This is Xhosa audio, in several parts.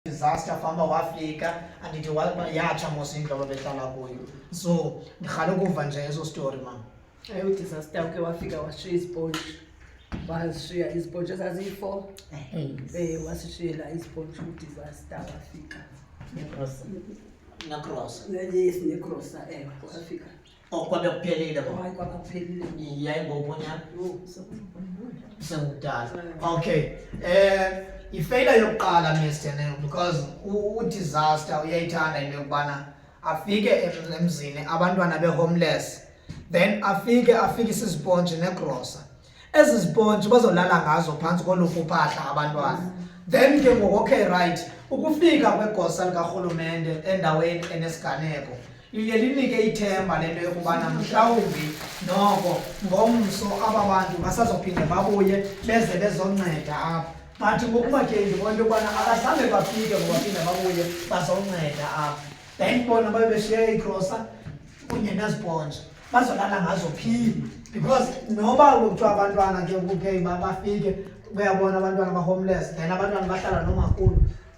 disaster famba wafika andithi yatsha mos indlu ababehlala kuyo so ndirhale ukuva nje eso story mam ayi udisaster uke wafika washiya iziponji washiya iziponji ezaziyi-four um wasishiyela iziponji udisaster wafika necrosa yes necrosa ewe wafika Okwabya kuphelile bo. Hayi kwaba kuphelile. Yayi ngokunya. Yho, sekubona. Sengudala. Okay. Eh ifeyila yokuqala Mr. Neo because u- udisaster uyayithanda into yokubana afike em- emzini abantwana be-homeless then afike afikise izipontshi negrosa ezi zipontshi bazolala ngazo phantsi kolufu phahla abantwana then ke ngoku okay right ukufika kwegosa likarhulumente endaweni enesiganeko liye linike ithemba le nto yokubana mhlawumbi noko ngomso aba bantu basazophinde babuye beze bezonceda apha but ngokuba ke ndibona into yokubana akazange bafike ngobaphinde babuye bazonceda apha then bona babe beshiye igrosa kunye nezipontsha bazolala ngazo phi because noba kuthiwa abantwana ke kuke bafike buyabona abantwana ba-homeless then abantwana bahlala nomakhulu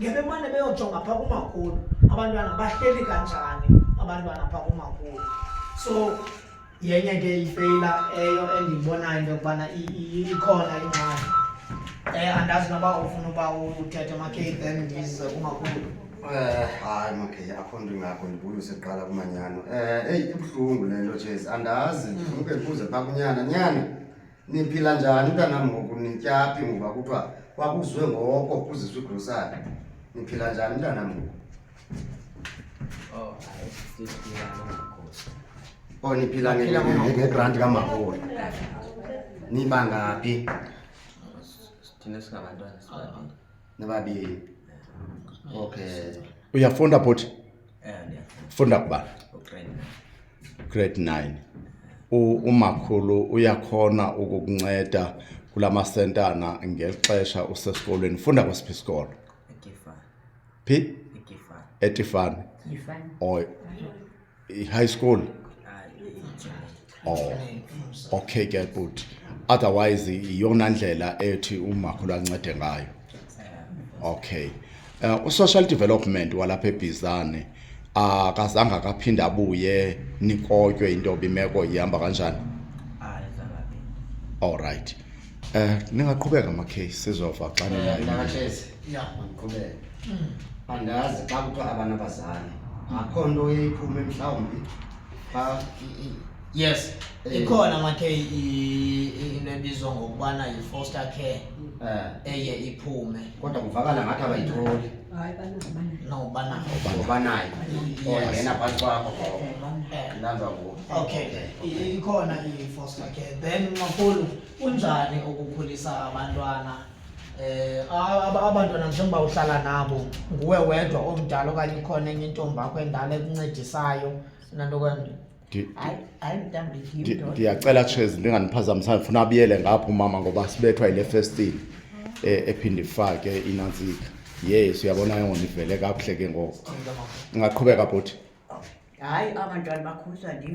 ngebemane beyojonga phaa kumakhulu abantwana bahleli kanjani abantwana phaa kumakhulu so yenye ke ifeyila eyo endiyibonayo into yokubana ikhona ingxaki um andazi noba ufuna uba uthethe makhei then ndize kumakhulu Eh, hayi makhe akho nto ingakho ndibuye useqala kumanyano um eyi ibuhlungu le nto jezi andazi ndifunke mm. ndibuze phaa kunyana nyana niphila njani mntanam ngoku nityaphi ngoba kuthiwa kwakuzwe ngoko kuziswa igrosari niphila njani mntanam ngoku oh, o oh, niphila ngegranti kamahola nibangaphi thina singabantwana sibabini Ni babi yeye. Okay. Uyafunda bhuti? Eh, ndiyafunda. Funda kubana? Grade 9. Grade 9. umakhulu uyakhona ukukunceda kula masentana ngexesha usesikolweni funda kwesiphi isikolo phi etifane high school oh okay ke bhuti otherwise iyona ndlela ethi umakhulu ancede ngayo okay uh, usocial development walapha ebhizane akazange akaphinde abuye nikotywe into yoba imeko ihamba kanjani all right Eh ningaqhubeka ma case sizova xa ninayo. Nakahlezi. Ya. Mandiqhubeke. Andazi xa kuthiwa abanabazali. Akho nto eyiphume mhlawumbi. Xa Yes. Eh. Ikhona makhe i- i- into ebizwa ngokubana yi-foster care eh eye iphume kodwa kuvakala ngathi abayitholi. Hayi banazimana. nobana Ngoba nayo. Yes. Ongena phantsi kwakho. Eh, Lanza ngoku. Okay, i- ikhona i-foster care. Then makhulu, kunjani ukukhulisa abantwana? Eh, a- ab- abantwana njengoba uhlala nabo, nguwe wedwa omdala okanye ikhona enye intombi yakho endala ekuncedisayo nanto kwenye. Ndi- Hayi, hayi mntambi ndi- yim ndoda. ndiyacela chez ndinganiphazamisana ndifuna abuyele ngapho umama ngoba sibethwa yile festile eh, ephinde ifake inantsika yes uyabona ke ngondivele kakuhle ke ngoku Cela makhulu. ungaqhubeka bhuti Hayi abantwana bakhuliswa ndim.